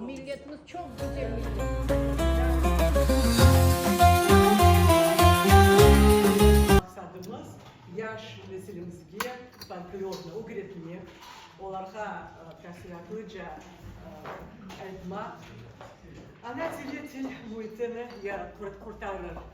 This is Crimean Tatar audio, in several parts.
Milletimiz çoq güzel millet. Maqsadımız, yaş nesilimizge folklornı ögretmek, olarğa tafsilâtlıca aytmaq, ana tili til müitini qurtarır.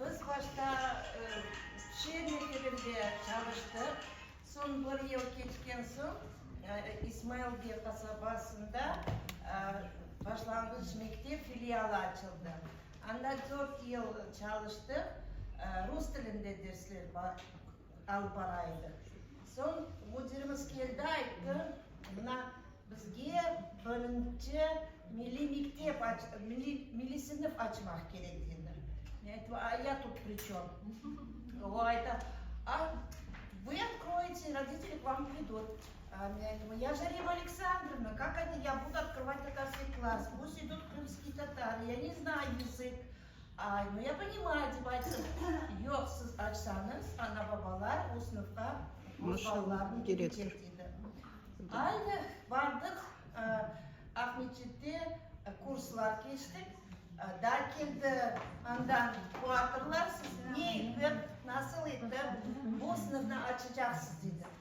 Biz başta Çerni filmde çalıştıq, soñ bir yıl keçken soñ İsmailge qasabasında başlanğıç mektep filialı açıldı. Anda dört yıl çalıştıq, rus tilinde dersler alıp baraydıq. Soñ müdirimiz keldi, ayttı, mına Bizge birinci milliy mektep, milliy sınıf açmaq kerek, dedi. Men ayttım, a ya tut pri çöm? O ayta, a vı otkroyete, i roditeli k vam pridut. Men ayttım, ya da Rimma Aleksandrovna, kak ya budu otkrovat tatarskiy klass, pust idut krımskiy tatar, ya ne znay yızık. Ay, nu ya ponimayu, dep ayttım. Yoq, siz açsañız, ana-babalar o sınıfqa öz balalarını berecek, dedi. Aynı bardıq, Aqmescitte kurslar keçtik. Daa keldi andan quatorlar, siz ne etip, nasıl etip bu sınıfnı açacaqsız, dedi.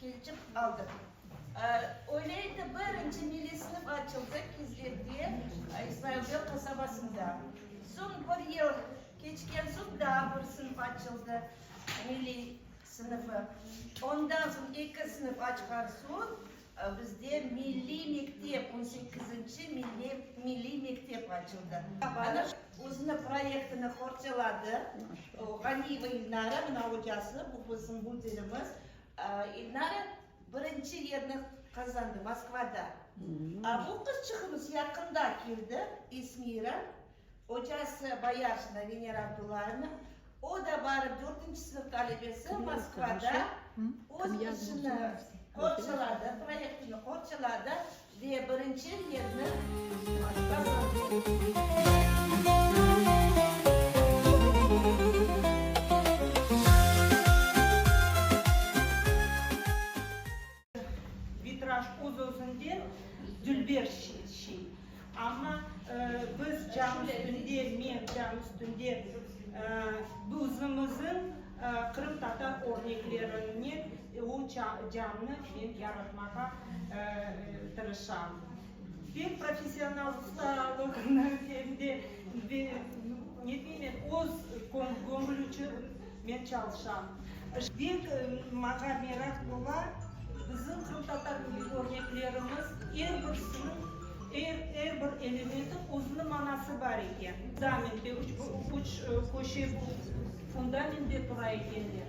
Kelçip aldıq. Öyleydi, birinci milliy sınıf açıldı Kizlevde, İsmailbey qasabasında. Soñ bir yıl keçken soñ daa bir sınıf açıldı, milliy sınıfı. Ondan soñ eki sınıf açqan soñ bizde milliy mektep, on sekizinci milliy mektep açıldı. Ana özüniñ proyektini qorçaladı. Ğaniyeva İlnara, mına ocası, bu bizim müdirimiz. İlnara birinci yerni qazandı Moskvada. A bu qız çıqımız yaqında keldi, İsmira, ocası Boyarsnaya Venera Abdullaevna. O da barıp dördünci sınıf talebesi Moskvada öz işini qorçaladı, proyektini qorçaladı. Ve birinci yerni Vitraj öz-özünden dülber şey. Amma biz cam üstünde, men cam üstünde buzımızın qırımtatar örneklerine. O cannı men yaratmağa tırışam. Ben professional ustalıqnı hem de, ne bileyim men, öz köñlü içün men çalışam. Bek maña meraq ola, bizim qırımtatar örneklerimiz, er birisiniñ, er bir elementi özüniñ manası bar eken. Fundamente, üç köşe bu fundamentde tura ekenler.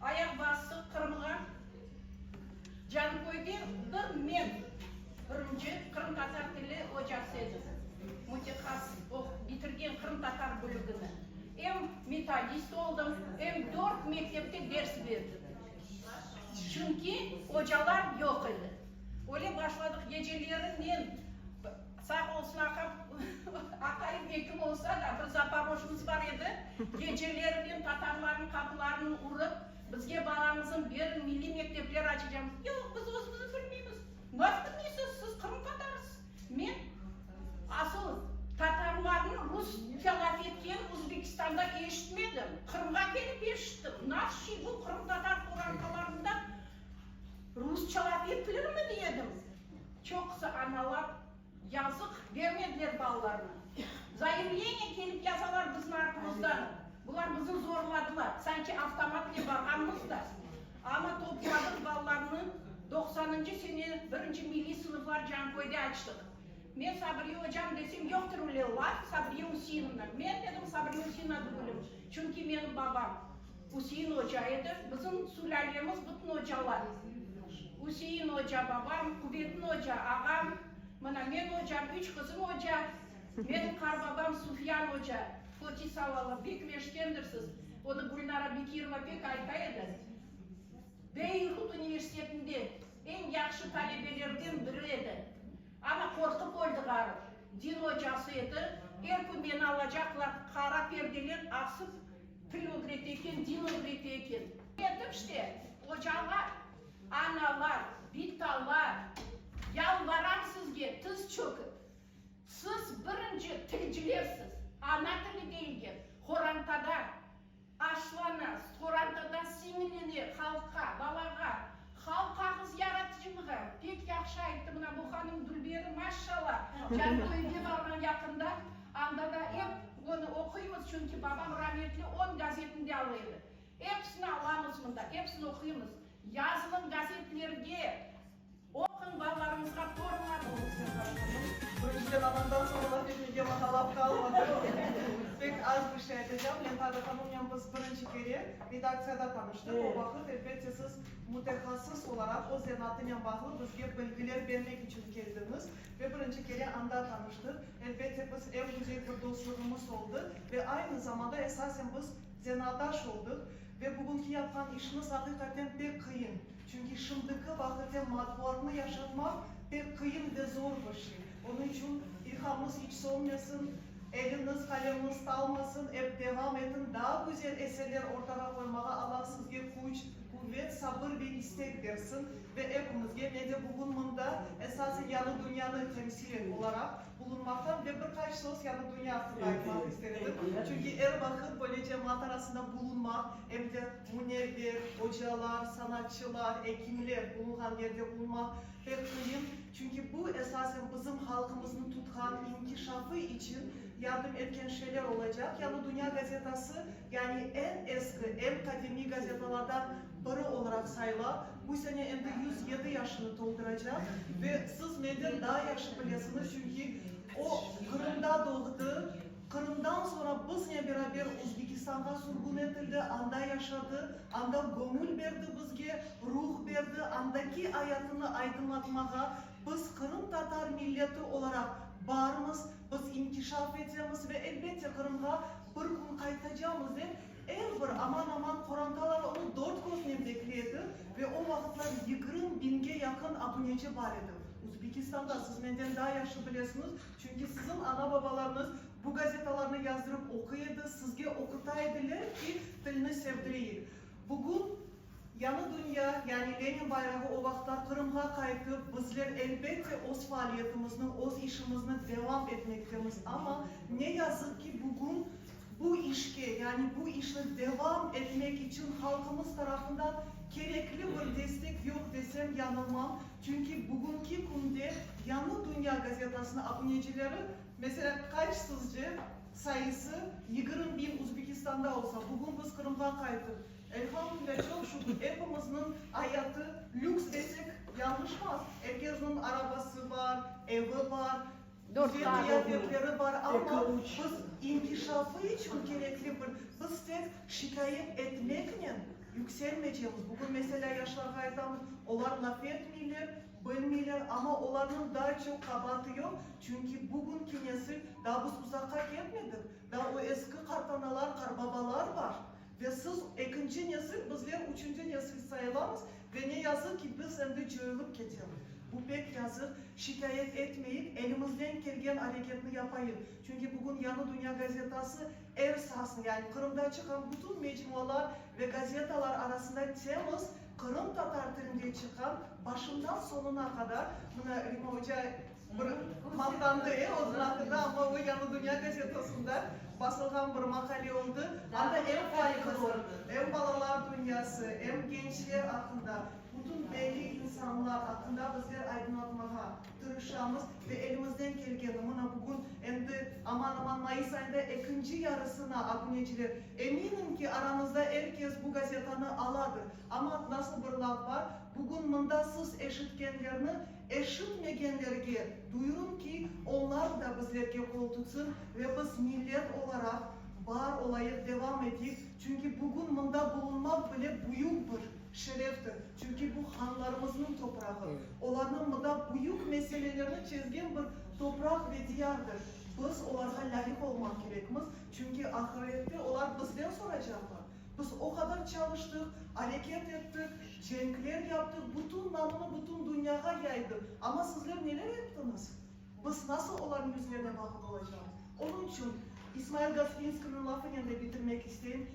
Ayaq bastıq Qırımğa. Canköyde bir men, birinci qırımtatar tili ocası edim. Mütehassıs oqup bitirgen qırımtatar bölügini. Em metodist oldım, em dört mektepte ders berdim. Çünki ocalar yoq edi. Öyle başladıq. Geceleri men. Sağ olsun aqam, aqayım ekim olsa da, bir zaporojnıs bar edi, gecelerinen tatarlarnıñ qapılarını urıp, bizge balañıznı beriñ, milliy mektepler açacamız, yoq, biz özümüz bilmeymiz, nasıl bilmeysiz, siz qırımtatarısız, men asıl tatarlarnı rus telaf etkeni Uzbekistanda eşitmedim, Qırımğa kelip eşittim, nasıl şey bu, qırımtatar qorantalarında rusçalap etilirmi, dedim. Çoqusı analar, yazıq, bermediler balalarını. Zaimleniye kelip yazalar bizim artımızdan. Bular bizni zorladılar, sanki avtomatnen barğanımız da. Amma topladıq balalarını, doqsanıncı sene birinci milliy sınıflar Canköyde açtıq. Men Sabriye ocam desem, yoqtır öyle laf, Sabriye Üseinovna. Men dedim, Sabriye Üseinovna degülim, çünki menim babam. Üsein oca edi, bizim sülâlemiz bütün ocalar, Üsein oca babam, Qubeddin oca ağam, mına men ocam, üç qızım oca, menim qarbabam Sufyan oca, Foti Salalı, bek meşkendirsiz, onı Gülnara Bekirova pek ayta edi, Beyrut universitetinde eñ yahşı talebelerden biri edi, ana qorqıp öldi ğarı, din ocası edi, er kün meni alacaqlar, qara perdeler asıp, Til ögrete eken, din ögrete eken. Etip işte, ocalar, analar, bitalar, yalvaram sizge, tiz çökip, siz birinci tilcilersiz, ana tili deyilgen qorantada aşlana, qorantada siñlene halqqa, balağa, Halqqa qız yaratıcılığı. Pek yahşı ayttı mına bu hanım Dülberi maşşala. Canlı efir barğan yaqında, anda da ep onı oquymız, çünki babam rametli on gazetini de ala edi. Episini alamız mında, episini oquymız. Yazılın gazetlerge, oquñ balalarıñızğa torunlar olursa başkanım. Birinçiden anamdan soñ laf etmege maqalam qalmadı. Pek az bir şey aytacam. Lentalı hanımnen biz birinci kere redaktsiyada tanıştıq. O vaqıt elbette siz Mütehassıs olaraq öz zanaatınen bağlı bizge bilgiler bermek içün keldiñiz ve birinci kere anda tanıştıq. Elbette, biz ev müzey bir dostluğımız oldı ve aynı zamanda esasen biz zanaatdaş oldıq. Ve bugünki yapqan işiñiz aqiqaten pek qıyın, çünki şimdiki vaqıten matbuatnı yaşatmaq pek qıyın ve zor bir şey. Onıñ içün ilhamıñız iç sönmesin. Eliñiz qaleñiz talmasın ep devam etiñ daa güzel eserler ortağa qoymağa Allah sizge küç quvet sabır ve istek bersin ve epimizge men de bugün mında esasen yañı dünyanı temsil et olaraq bulunmaqtan ve bir qaç söz yañı dünya aqqında aytmaq ister edim çünki er vaqıt böyle cemaat arasında bulunmaq em de munevver ocalar sanatçılar ekimler bulunğan yerde bulunmaq Pek qıyın, çünki bu, esasen bizim halqımıznı tutqan inkişafı içün yardım etken şeyler olacaq. Yañı Dünya gazetası, yani eñ eski, eñ qadimiy gazetalardan biri olaraq sayıla, bu sene endi yüz yedi yaşını tolduracaq. Ve siz menden daa yahşı bilesiñiz, çünki o Qırımda doğdı. Qırımdan soñra biznen beraber Özbekistanğa sürgün etildi, anda yaşadı, anda göñül berdi bizge, ruh berdi, andaki ayatını aydınlatmağa, biz qırımtatar milleti olaraq barmız, biz inkişaf etemiz ve, elbette, Qırımğa bir kün qaytacamız, dep er bir, aman-aman, qorantalar onı dört köznen bekle edi ve o vaqıtlar yigrim biñge yaqın abuneci bar edi. Özbekistanda, siz menden daa yahşı bilesiñiz, Çünki siziñ ana-babalarıñız bu gazetalarnı yazdırıp oquy edi, sizge oquta ediler ki, tilni sevdireyik. Bugün Yañı dünya, yani Lenin bayrağı o vaqıtlar Qırımğa qayttı. Bizler, elbette, öz faaliyetimizni, öz işimizni devam etmektemiz. Amma, ne yazıq ki, bugün bu işke, yani bu işni devam etmek içün halqımız tarafından kerekli bir destek yoq desem, yanılmam. Çünki bugünki künde Yañı dünya gazetasınıñ abunecileri, meselâ, qaç sizce, sayısı? Yigirmi biñ Uzbekistanda olsa, bugün biz Qırımğa qaytıp, elhamdülillâ, çoq şükür, epimizniñ ayatı lüks desek, yañlışmaz. Er kesniñ arabası bar, evi bar. Dört saat oquy. Bizde qıyafetleri bar, amma biz inkişafı içün kerekli bir, biz tek şikâyet etmeknen yükselmeycemiz. Bugün meselâ yaşlarğa aytamız, olar laf etmeyler, bilmeyler, amma olarnıñ daa çoq qabaatı yoq, çünki bugünki nesil, daa biz uzaqqa ketmedik, daa o eski qartanalar, qarbabalar bar. Ve siz ekinci nesil, bizler üçünci nesil sayılamız ve ne yazıq ki, biz endi coyılıp ketemiz. Bu pek yazıq. Şikâyet etmeyik, elimizden kelgen areketni yapayıq. Çünki bugün Yañı Dünya gazetası er sasnı, yani Qırımda çıqan bütün mecmualar ve gazetalar arasında temiz qırımtatar tilinde çıqqan, başından soñuna qadar, mına Rima oca, Bir maqtandı e, özüniñ aqqında, amma o Yañı dünya gazetasında basılğan bir maqale oldı. Anda em qayğısı, em balalar dünyası, em gençler aqqında, bütün belli insanlar aqqında bizler aydınlatmağa tırışamız ve elimizden kelgeni, mına bugün endi aman-aman mayıs ayında ekinci yarısına, abuneciler, eminim ki, aramızda er kes bu gazetanı aladır, amma nasıl bir laf bar, bugün mında siz eşitkenlerni Eşitmegenlerge duyurım ki, onlar da bizlerge qol tutsın ve biz millet olaraq bar olayıq, devam eteyik, çünki bugün mında bulunmaq bile büyük bir şereftir, çünki bu hanlarımıznıñ toprağı, olarnıñ mında büyük meselelerni çezgen bir topraq ve diyardır, biz olarğa lâyıq olmaq kerekmiz, çünki ahirette olar bizden soracaqlar. Biz o qadar çalıştıq, areket ettik, cenkler yaptıq, bütün namını bütün dünyağa yaydıq. Amma sizler neler yaptıñız? Biz nasıl olarnıñ yüzlerine baqıp olacağımız? Onıñ içün İsmail Goslinskiyniñ lafınen de bitirmek isteyim,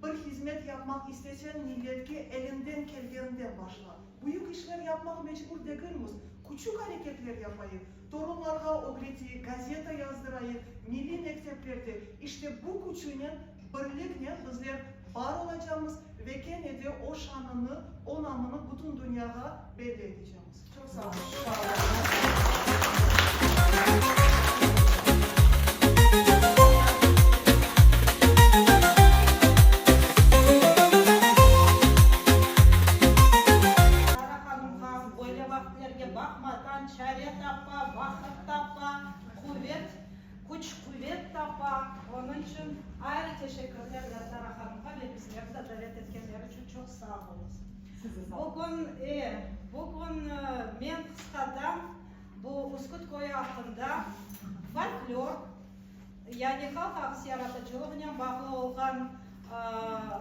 Bir hizmet yapmaq isteseñ, milletke eliñden kelgeninden başla. Büyük işler yapmağa mecbur degilmiz. Küçük areketler yapayıq, torunlarğa ögreteyik, gazeta yazdırayıq, milliy mekteplerde. İşte bu küçünen Birliknen bizler bar olacamız ve kene de o şanını, o namını bütün dünyağa belli etecemiz. Çoq sağ olun. küç-quvet tapa, onıñ içün ayrı teşekkürler ve Zara hanımğa ve bizlerni de davet etkenleri içün çoq sağ olunız. Size sağ olunız. Bugün, e, bugün men qısqadan bu Üsküt köyü aqqında, folklor, yani halq ağısı yaratıcılığınen bağlı olğan, ııı,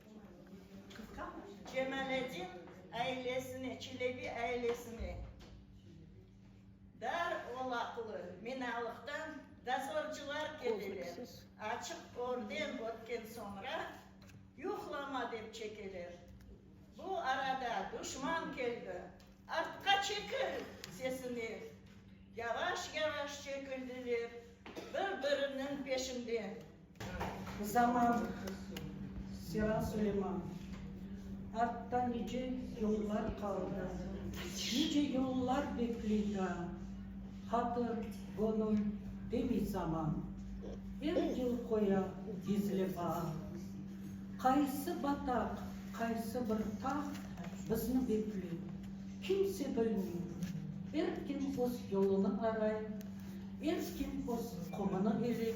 Cemaletdin ailesine, Çelebi ailesine dar olaqlı minalıqtan dozorcılar keleler, açıq orden ötken soñra yuqlama dep çekeler. Bu arada duşman keldi, artqa çekil! sesine yavaş-yavaş çekildiler, bir-biriniñ peşinde. Zaman, Sera Suleyman. Artta nice yıllar qaldı, Nice yıllar bekley daa, Hatır, göñül, demey zaman, Er yıl qoya gizli baa. Qaysı bataq, qaysı bir tağ Bizni bekley, kimse bilmey, Er kim öz yolunı aray, Er kim öz qumını eley.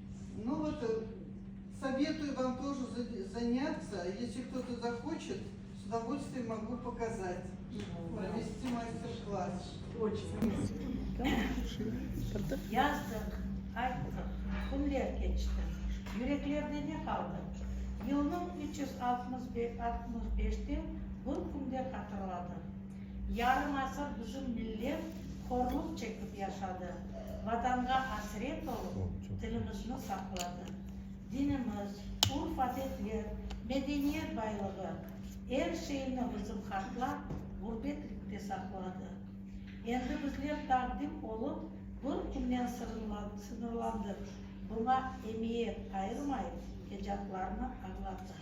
Nu vot, sovetuyu vam toje zanyatsa, yesli kto-to zahoçet, s udovolstviyen mogu pokazat, provesti master-klass. Yazdıq, ayttıq, künler keçti, yüreklerde ne qaldı? Yılnıñ üç yüz altmıs beşte bir künde hatırladıq. Yarım asır bizim millet horluq çekip yaşadı, Vatanğa asret olıp, tilimizni saqladı. Dinimiz, urf-adetler, medeniyet baylığı, er şeyni bizim hatlar ğurbetlikte saqladı. Endi bizler taqdim olıp, bir künnen sıñırlandıq, buña emiyet ayırmay, ecatlarnı añlattıq.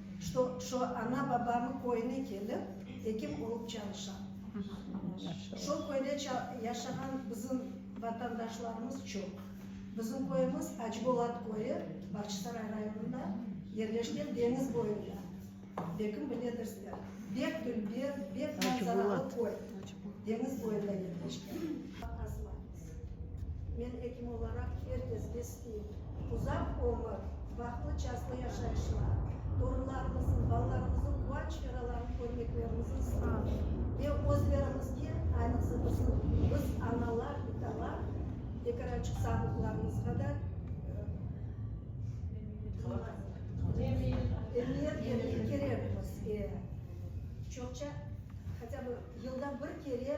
Şo, şo ana babamı köyüne kelip, ekim olıp çalışam. Şo köyde ça, yaşağan bizim vatandaşlarımız çoq. Bizim köyümiz Acıbolat köyü, Bağçısaray rayonında yerleşken deñiz boyunda. Belkim biledirsler. Bek dülber, bek manzaralı köy. Deñiz boyunda yerleşken. Men ekim olaraq er kesge isteyim, uzaq ömür, bahtlı çaslı yaşayışlar, torunlarımıznıñ, balalarımıznıñ quvanç çeralarını körmeklerimizni isteyim ve özlerimizge, aynıqsa bizim, biz, analar, italar, ekerançıq sağlıqlarımızğa da emiyet bermege kerekmiz. Çoqça, hatya bı yılda bir kere